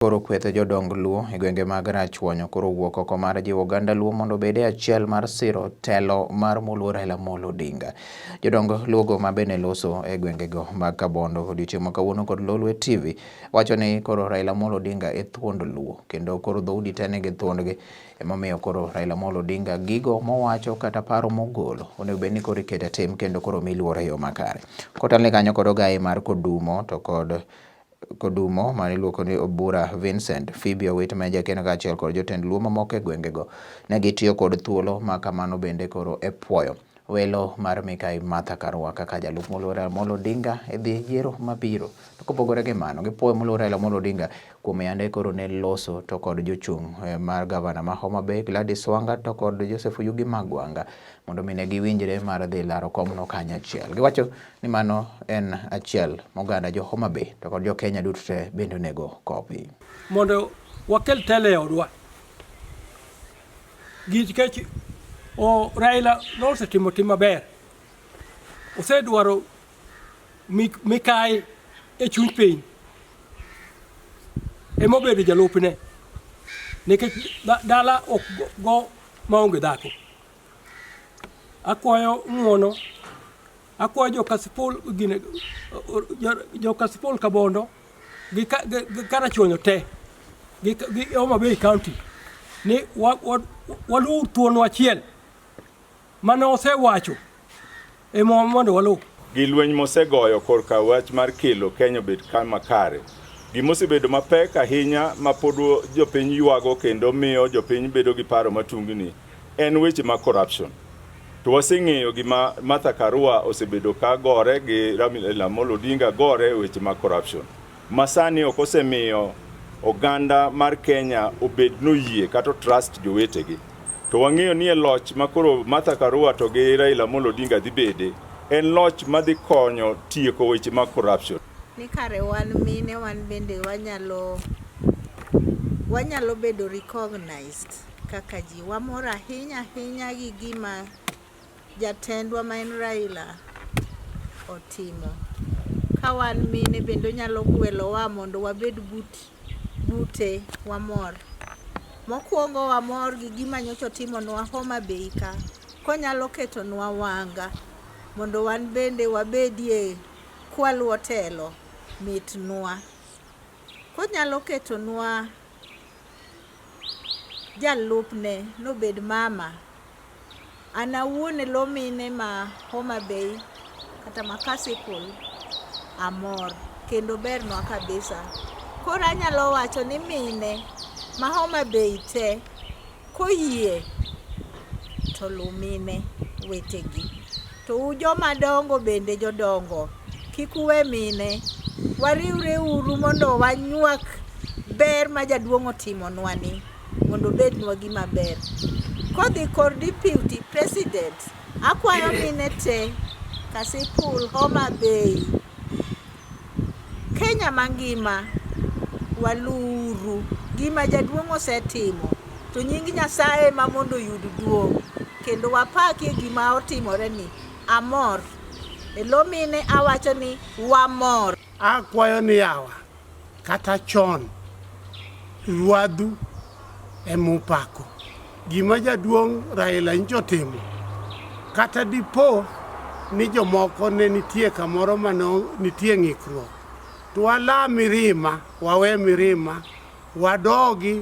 Koro kweth jodong Luo e gwenge mag Rachuonyo koro owuok oko mar jiwo oganda Luo mondo obed e achiel mar siro telo mar Moluo Raila Amolo Odinga. Jodong Luo go ma bende loso e gwenge go mag Kabondo odiochieng' ma kawuono kod Lolwe TV wacho ni koro Raila Amolo Odinga e thuond Luo kendo koro dhoudi te nigi thuondgi emomiyo koro Raila Amolo Odinga gigo mowacho kata paro mogolo onego bed ni koro ikete tim kendo koro mi luor e yo makare. Kotelne kanyo kod ogaye mar Kodumo to kod Kodumo ma niluoko ni Obura Vincent, Phoebe Owit ma en jakeno kaachiel kod jotend Luo mamoko e gwengego ne gitiyo kod thuolo ma kamano bende koro e puoyo welo mar Mikai Martha Karua kaka jalup Moluor Raila Amolo Odinga e dhi yiero mabiro. To kopogore gi mano, gipuoyo Moluor Raila Amolo Odinga kuom yande koro ne loso to kod jochung' eh, mar gavana ma Homa Bay Gladys Wanga to kod Joseph Oyugi Magwanga mondo mi ne giwinjre mar dhi laro komno kanyachiel. Giwacho ni mano en achiel moganda jo Homa Bay to kod jo Kenya duto te bende onego kopi. Mondo wakel tele e odwa nikech Raila nosetimo tim maber, osedwaro mikayi e chuny piny ema obedo jalupne nikech dala ok go maonge dhako. Akwayo ng'wono Akwayo jo Kasipul gine jo Kasipul Kabondo gi Karachuonyo te gi Homa Bay County ni waluw thuon achiel mane osewacho e mwa mondo waluw gi lweny mosegoyo korka wach mar kelo Kenya obed kama kare gimosebedo mapek ahinya ma pod jopiny ywago kendo miyo jopiny bedo gi paro matungni En weche ma corruption. To waseng'eyo gima Martha Karua osebedo ka gore gi Raila Amolo Odinga gore e weche ma corruption. Masani ok osemiyo oganda mar Kenya obed noyie kata trust jowetegi. To wang'eyo ni e loch ma koro Martha Karua to gi Raila Amolo Odinga dhi bede en loch ma dhi konyo tieko weche ma corruption. Ni kare wan mine wan bende wanyalo wanyalo bedo recognized. kaka ji. Wamor ahinya ahinya gi gima jatendwa ma en Raila otimo. Ka wan mine bende onyalo gwelowa mondo wabed but bute wamor. Mokwongo wamor gi gima nyocha otimonwa Homa Bay ka konyalo ketonwa wanga mondo wan bende wabedie kwaluwo telo mitnwa. Konyalo ketonwa jalupne nobed mama. An awuon e lo mine ma Homa Bay kata ma Kasipul amor kendo bernwa kabisa. Koro anyalo wacho ni mine ma Homa Bay te koyie to lumine wetegi. To u joma dongo bende jodongo, kik uwe mine. Wariwre uru mondo wanywak ber ma jaduong' otimonwani mondo obednwa gima ber. Kodhi kor deputy president, akwayo mine te Kasipul, Homa Bay. Kenya mangima waluuru gima jaduong' osetimo to nying Nyasaye ma mondo oyud duong' kendo wapaki e gima otimore ni amor elomine awacho ni wamor akwayo ni yawa kata chon ruadhu emupako Gima jaduong' Raila nyicha otimo, kata dipo ni jomoko ne nitie kamoro ma ne nitie ng'ikruok, to wala mirima, wawe mirima, wadogi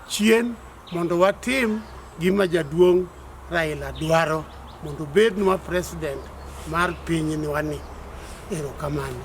chien mondo watim gima jaduong' Raila dwaro mondo obednwa president mar pinywani. Erokamano.